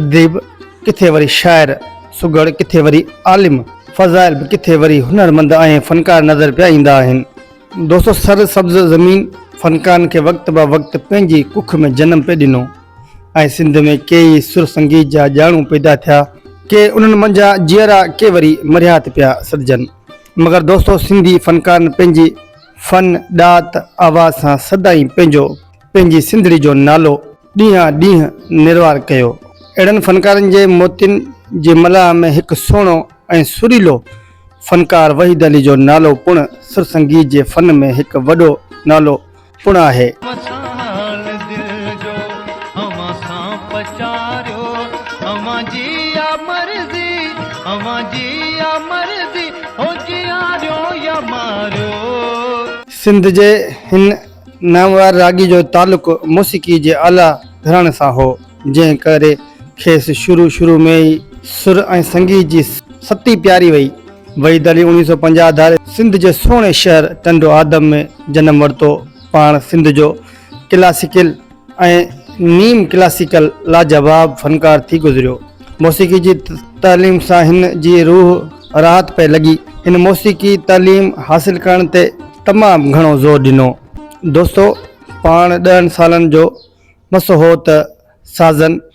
اديب ڪٿي وري شاعر سگهڙ ڪٿي وري عالم فضائل به ڪٿي وري هنرمند ۽ فنڪار نظر پيا ايندا آهن. دوستو سر سبز زمين فنڪارن کي وقت به وقت پنهنجي ڪک ۾ جنم پئي ڏنو ۽ سنڌ ۾ ڪي ئي سر سنگيت جا ڄاڻو پيدا ٿيا، ڪي انهن منجهان جيئرا ڪي وري مرهيا ته پيا سڏجن مگر دوستو سنڌي فنڪارن پنهنجي فن، ڏات، آواز سان سدائين پنهنجو پنهنجي سنڌڙي جو نالو ڏينهان ڏينهن نروار ڪيو. اهڙن فنڪارن جي موتين جي ملاح ۾ هڪ سهڻو ۽ سريلو فنڪار وحيد علي جو نالو پڻ سرسنگيت جي فن ۾ هڪ وڏو نالو پڻ آهي. وصال دل جو اوهان سان پچاريو اوهان جي آ مرضي اوهان جي آ مرضي هو جياريو يا ماريو. سنڌ جي هن نامور راڳي جو تعلق موسيقي جي اعليٰ گهراڻي سان هو، جنهن ڪري کيس شروع شروع ۾ ئي سر ۽ سنگيت جي ستي پياري وئي. وحيد علي اوڻيهه سؤ پنجاهه ڌاري سنڌ جي سهڻي شهر ٽنڊو آدم ۾ جنم ورتو. پاڻ سنڌ جو ڪلاسيڪل ۽ نيم ڪلاسيڪل لاجواب فنڪار ٿي گذريو. موسيقي جي تعليم سان هن جي روح راحت پئي لڳي. هن موسيقي تعليم حاصل ڪرڻ تي تمام گهڻو زور ڏنو. دوستو پاڻ ڏهن سالن جو مس هو ته سازن.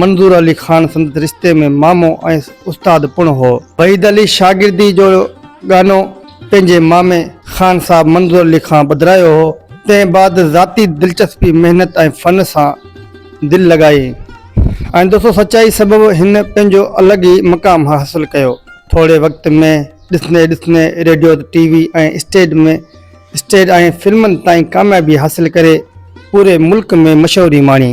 منظور علي خان سندس رشتي ۾ مامو ۽ استاد پڻ هو. وحيد علي شاگردي جو ڳانو پنهنجي مامي خان صاحب منظور علي کان ٻڌرايو هو. تنهن بعد ذاتي دلچسپي، محنت ۽ فن سان دل لڳائي ۽ دوسو سچائي سبب هن پنهنجو الڳ ئي مقام حاصل ڪيو. ٿوري وقت ۾ ڏسندي ڏسندي radio, T V ۽ stage ۾ stage ۽ فلمن تائين ڪاميابي حاصل ڪري پوري ملڪ ۾ مشهوري ماڻي.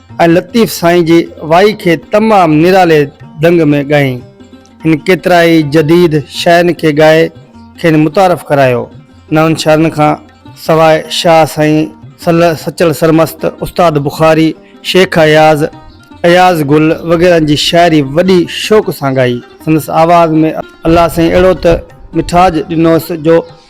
۽ لطيف سائين جي وائي کي تمام نرالي ڍنگ ۾ ڳائين. هن ڪيترائي جديد شاعرن کي ڳائي کين متعارف ڪرايو. نون شاعرن کان سواء شاهه سائين، سچل سرمست، استاد بخاري، شيخ اياز، اياز گل وغيرهن جي شاعري وڏي شوق سان ڳائي. سندس آواز ۾ الله سائين اهڙو ته مٺاج ڏنوس جو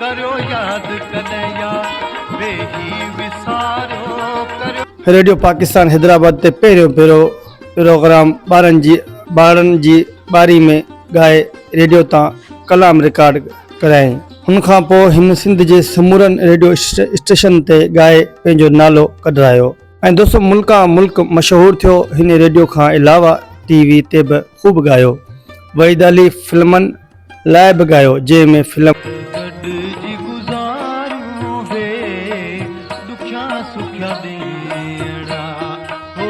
ڪريو ياد ڪڏهن يا ويهي وساريو. ريڊيو پاڪستان حيدرآباد تي پهريون ڀيرو پروگرام ٻارن جي ٻارڙن جي ٻاري ۾ ڳائي ريڊيو تان ڪلام رڪارڊ ڪرايائين. ان کان پوء هن سنڌ جي سمورن ريڊيو اسٽيشنن تي ڳائي پنهنجو نالو ڪڍرايو ۽ دوستو ملڪان ملڪ مشهور ٿيو. هن ريڊيو کان علاوه ٽي وي تي به خوب ڳايو. وحيد علي فلمن. لاء به ڳايو جنهن ۾ فلم. گڏجي گذاريون هي ڏکيا سکيا ڏينهڙا هو.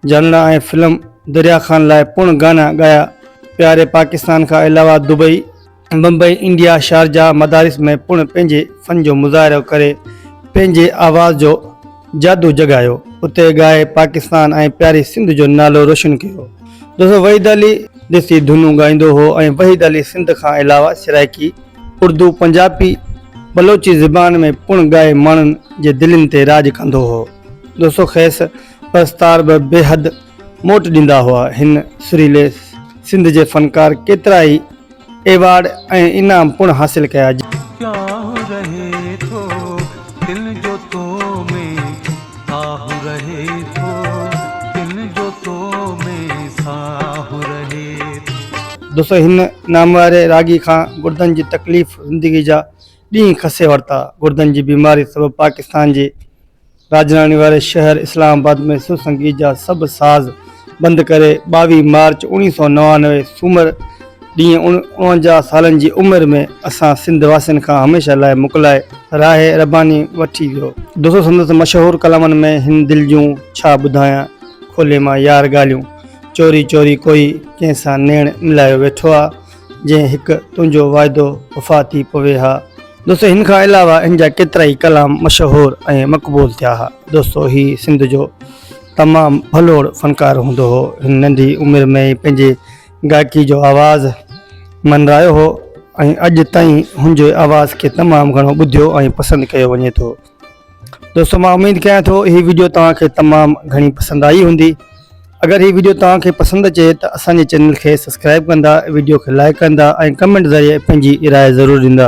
جانڻا ۽ فلم دريا خان لاء پڻ گانا ڳايا پياري پاڪستان کان علاوه دبئي. بمبئي انڊيا شارجا مدارس ۾ پڻ پنهنجي فن جو مظاهرو ڪري پنهنجي آواز جو. جادو جڳايو اتي ڳائي پاڪستان ۽ پياري سنڌ جو نالو روشن ڪيو دوستو وحيد علي ديسي ڌنون ڳائيندو هو ۽ وحيد علي سنڌ کان علاوه سرائيڪي اردو پنجابي بلوچي زبان ۾ پڻ ڳائي ماڻهن جي دلين تي راڄ ڪندو هو دوستو کيس پرستار به بيحد موٽ ڏيندا هئا هن سريلي سنڌ جي فنڪار ڪيترا ئي ايوارڊ ۽ انعام پڻ حاصل ڪيا. پياه رهي ٿو دل جو تو ۾ آه رهي ٿو دل جو تو ۾ ساه رهي ٿو. دوستو هن نامواري راڳي کان گردن جي تڪليف زندگي جا ڏينهن کسي ورتا گردن جي بيماري سبب پاڪستان جي راڄڌاني واري شهر اسلام آباد ۾ سر سنگيت جا سڀ ساز بند ڪري ٻاويهه مارچ اوڻيهه سؤ نوانوي سومر ڏينهن اڻونجاهه سالن جي عمر ۾ اسان سنڌ واسين کان هميشه لاء مڪلائي راهي رباني وٺي ويو. دوستو سندس مشهور ڪلامن ۾ هن دل جون ڇا ٻڌايان کولي مان يار ڳالهيون چوري چوري ڪوئي ڪنهن سان نيڻ ملايو ويٺو آ. جنهن هڪ تنهنجو واعدو وفا ٿي پوي ها. دوستو هن کان علاوه هن جا ڪيترائي ڪلام مشهور ۽ مقبول ٿيا ها. دوستو هي سنڌ جو تمام ڀلوڙ فنڪار هوندو هو. هن ننڍي عمر ۾ ئي پنهنجي گائڪي جو آواز منرايو هو ۽ اڄ تائين هن جي آواز کي تمام گهڻو ٻڌيو ۽ پسند ڪيو وڃي ٿو. دوستو مان اميد ڪيان ٿو هي ويڊيو توهان کي تمام گهڻي پسند آئي هوندي اگر هي ويڊيو توهان کي پسند اچي ته اسان جي چينل کي سبسڪرائب ڪندا ويڊيو کي لائڪ ڪندا ۽ ڪمينٽ ذريعي پنهنجي راء ضرور ڏيندا